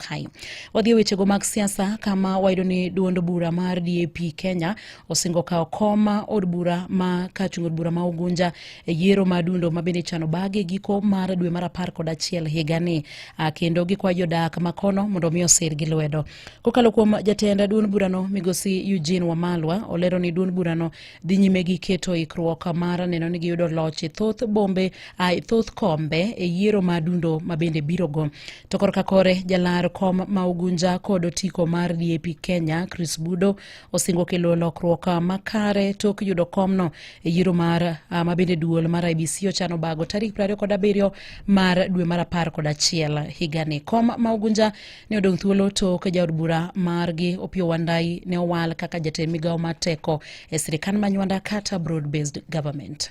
kae. Wadhi e wechego mag siasa kama wayudo ni duond bura mar DAP Kenya osingo kawo kom od bura ma ka chung od bura ma Ugunja e yiero ma dundo ma bende chano bage giko mar dwe mar apar kod achiel higani ah, kendo gikwayo jodak makono mondo omi osir gi lwedo. Kokalo kuom jatend duond burano migosi Eugene Wamalwa olero ni duond burano dhi nyime gi keto ikruok mar neno ni giyudo loch e thoth bombe ah, e thoth kombe e yiero ma dundo ma bende birogo. To korka kore jalar kom ma Ugunja kod otiko mar DAP Kenya Chris Budo osingo kelo lokruok makare tok yudo komno e yiero mar ah, ma bende duol mar IBC ochano bago tarik 27 mar dwe mar apar kod achiel higani. Kom ma Ugunja ne odong' thuolo tok jaod bura margi Opiyo Wandai ne owal kaka jatend migawo mar teko e sirikand manywanda kata broad based government.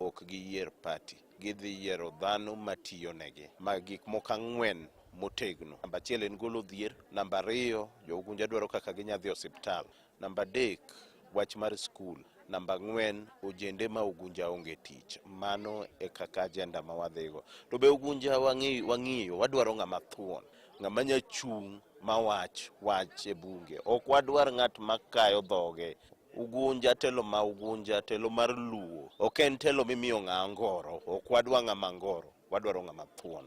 ok giyier pati, gidhi yiero dhano matiyo negi. Ma gik moko ang'wen motegno. Namba achiel en golo dhier, namba ariyo jougunja dwaro kaka ginya dhi osiptal, namba adek wach mar skul, namba ang'wen ojende ma ugunja onge tich. Mano e kaka ajenda ma wadhigo. To be ugunja wang'i- wang'iyo, wadwaro ng'ama thuon, ng'ama nya chung' ma wach wach e bunge. Ok wadwar ng'at makayo dhoge. Ugunja telo ma Ugunja, telo mar Luo ok en telo mimiyo ng'aa ngoro. Ok wadwa ng'ama ngoro, wadwaro ng'ama thuon.